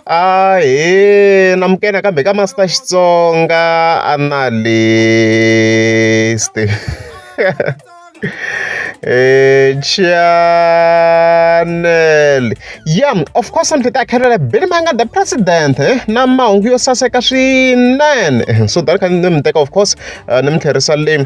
Ahee namukela kambe ka Master Xitsonga Analyst channel ya of course ndzi ta khelela Billy Manga the president eh, na mahungu yo saseka swinene so tani kha ni mi teka of course eh, ni mi tlherisa le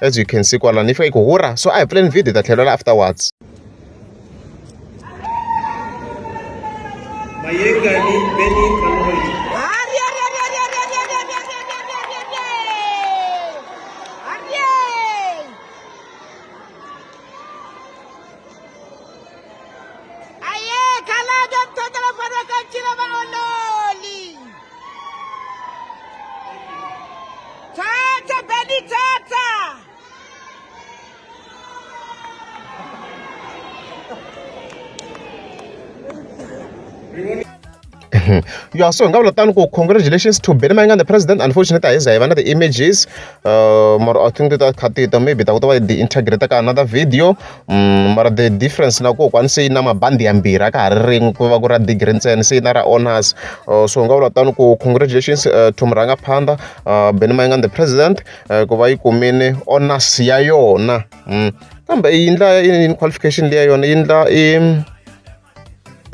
as you can see kwalano yi fika yi ku hurha so a hi pfuleni video hi ta tlhelela afterwards mayengani beni Tata, Benny Tata! ya so hi nga vula tano ku congratulations to benny mayengani the president unfortunately a hi za hi va na ti-images uh, mara i think that kha tita maybe ta kota va yi integrate ka another video um mara the difference na ko kwani se yi na mabandi yambirhi a ka ha ri rin'we ku va ku ra degree ntsena se yi na ra honors uh, so nga vula tano ku congratulations uh, to murhanga phanda uh, beni mayingan the president uh, ku va yi kumile honors ya yona um kambe yi ndla yini qualification leya yona yi ndla i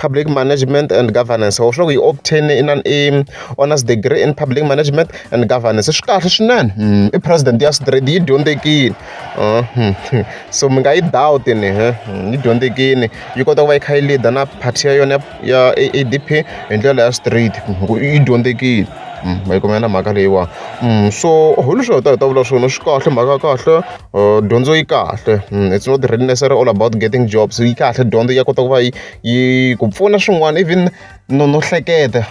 public management and governance or sure we obtain in an aim honors degree in public management and governance swi kahle swinene mm, i president ya straight yi dyondzekile uh, hmm, hmm. so mi nga yi doubt ni eh, hmm, yi dyondzekile yi kota ku va yi kha yi leader na party ya yona ya adp hi ndlela ya straight yi dyondzekile ma yi kumela mhaka leyiwani so hi leswi hi ta hi ta vula swona swi kahle mhaka kahle dyondzo yi kahle it's not really necessary all about getting jobs yi kahle dyondzo ya kota ku va yi yi ku pfuna swin'wana even no no hleketa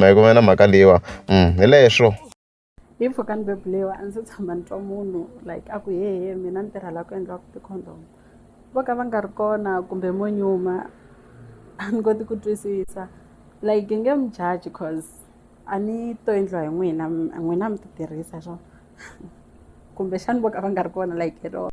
hi ku va na mhaka leyiwa hi leswo hi mpfhuka ni bebulewa a ndzi tshama ni twa munhu like a ku hehe mina ni tirhela ku endliwa ku ti-condom vo ka va nga ri kona kumbe mo nyuma a ni koti ku twisisa like nge mi jaji cause a ni to endliwa hi n'wina n'wina mi ti tirhisa swona kumbexani vo ka va nga ri kona like hi rona.